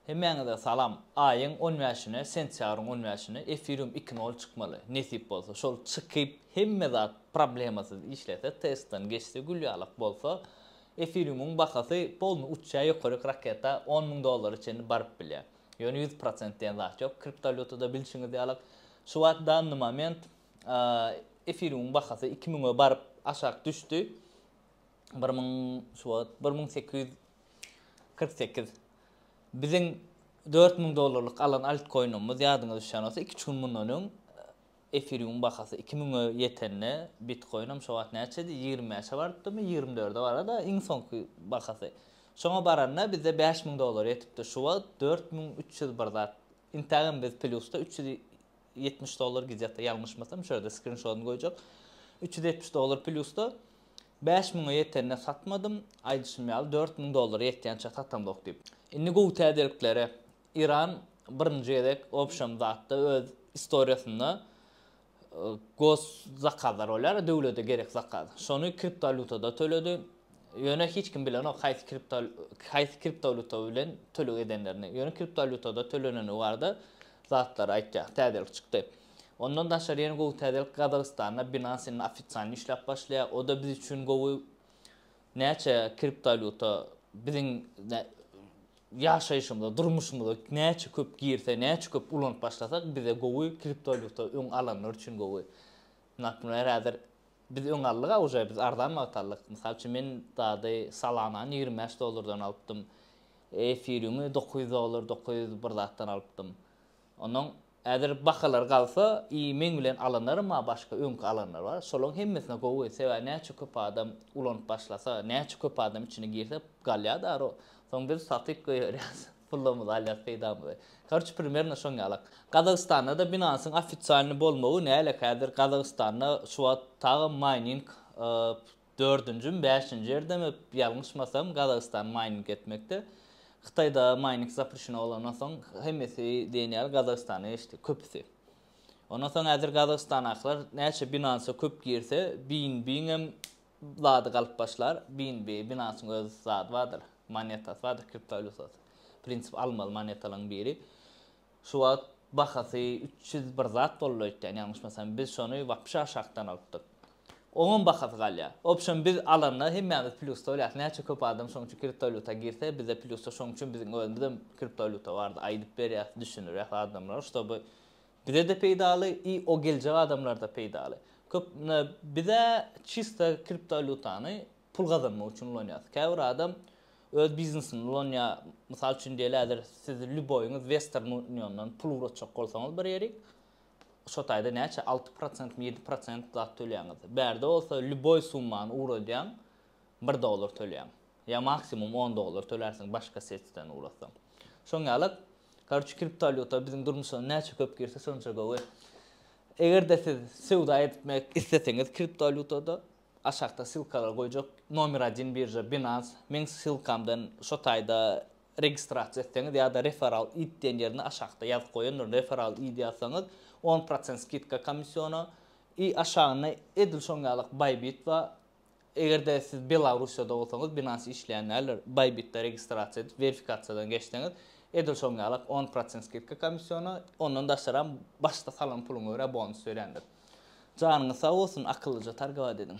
Hemmäňize salam! Aýyň on bäşine, sentýabryň on bäşine efirium iki nol çykmaly, nesip bolsa. Şol çykyp, hemme zat problemasyz işlese, testden geçse, gül ýalak bolsa, efiriumyň bahasy polny uçýar, ýokaryk raketa on müň dollara çenli baryp bilýär. Ýöne ýüz prosent diýen zat ýok kriptowalýutada bilşiňiz ýalak. Şu wagt danny moment efiriumyň bahasy iki müňe baryp aşak düşdi. Bir müň şu wagt bir müň sekiz ýüz Kyrk sekiz. Biziň dört müň dollarlyk alan altkoinymyz, ýadyňyza düşýän bolsa, iki-üç gün mundan öň efiriumyň bahasy iki müňe ýetende, bitkoinam şo wagt näçedi, ýigrimi bäşe barypdymy, ýigrimi dörde bara-da, iň soňky bahasy. Şoňa baranda bizde bäş müň dollar ýetipdir. Şu wagt dört müň üç ýüz bir zat. Intägem biz plýusda, üç ýüz ýetmiş dollar gidýär-de, ýalňyşmasam, şu ýerde skrinşodyny goýjak. Üç ýüz ýetmiş dollar plýus-da bäş müňe ýetende satmadym, aýdyşym ýaly, dört müň dollara ýetýänçä satamzok diýip. Indi gowy täzeliklere Iran birinji gezek obşem zatda öz istoriýasynda gos zakazlar bolýar-a, döwlete gerek zakaz. Şony kriptowalýutada töledi. Ýöne hiç kim bilenok haýsy kripto haýsy kriptowalýuta bilen töleg edenlerini. Ýöne kriptowalýutada tölenenligi barada zatlary aýtýar. Täzelik çykdy. Ondan daşary ýene gowy täzelik Gazagystanda Binance indi ofitsialny işläp başlaýar. O-da biz üçin gowy. Näçe kriptowalýuta biziň ýaşaýşymyza, durmuşymyza näçe köp girse, näçe köp ulanyp başlasak bize gowy, kriptowalýuta öň alanlar üçin gowy. Naprimýr häzir Biz öň aldyk a uje biz arzan wagt aldyk mysal üçin men dady salanany ýigrimi bäş dollardan alypdym efiriňi dokuz ýüz dollar dokuz ýüz bir zatdan alypdym ondan häzir bahalar galsa i meň bilen alanlarym a başga öňki alanlar bar şolaň hemmesine gowy sebäbi näçe köp adam ulanyp başlasa näçe köp adam içine girse galýa daro soň biz satyp goýberýas. Pullumyzy alýas peýdamyzy. Korçe primerno şoň ýalak. Gazagystanda-da Binansyň ofisialny bolmagy näle häzir Gazagystanda şu wagt tagam maýning dördünjimi bäşinji ýerdemi ýalňyşmasam Gazagystan maýning etmekde. Hytaýda maýning zaprişeno bolandan soň hemmesi diýen ýaly Gazagystana geçdi köpüsi. Ondan soň häzir Gazagystanakylar näçe Binansa köp girse BNB-ňem zady galyp başlar, BNB binasynyň öz zady bardyr, monetasy bardyr, kriptowalýutasy. Prinsip almaly monetalaryň biri. Şu wagt bahasy üç ýüz bir zat boldy öýtýän, ýalňyşmasam, biz şony wapşe aşakdan alypdyk. Oňam bahasy galýar. Obşem biz alanda hemmämiz plýusda bolýarys, näçe köp adam şonuň üçin kriptowalýuta girse, bizde plýusda şonuň üçin biziň özümizem kriptowalýuta bardy, aýdyp berýäs, düşündirýäs adamlara, ştoby Bizede peýdaly i o geljek adamlarda peýdaly. Köp na bizä çista kriptowalýutany pul gazanmak üçin ulanýas. Käbir adam öz biznesinde ulanýa. Mysal üçin diýeli häzir siz lýuboýyňyz western uniondan pul ugratjak bolsaňyz bir ýerik şo taýda näçe alty prosentmi ýedi prosent zat tölýäňiz. Bärde bolsa lýuboý summany ugradýaň bir dollar tölýäň. Ýa maksimum on dollar tölärsiň başga setden ugrasaň. Şoň ýaly. Karoçi kriptowalýuta biziň durmuşa näçe köp girse şonça gowy. Egerde siz söwda etmek isleseňiz kriptowalýutada aşakda silkalary goýjak nomer adin birža Binance meň silkamdan şo taýda registrasiýa etseňiz ýa-da referal it diýen ýerine aşakda ýazyp goýandyryn referal it ýazsaňyz on prosent skidka komisiona i aşagynda edil şoň ýaly bybit bar Eger-de siz Belarussiýada bolsaňyz, Binance işleýän däldir, Bybit-de registrasiýa edip, werifikasiýadan geçseňiz, edil şoň ýalak on prosent skidka komissiona, ondan daşaram başda salan puluňa görä bonus berýändir. Janyňyz sag bolsun, akyllyja targawat ediň.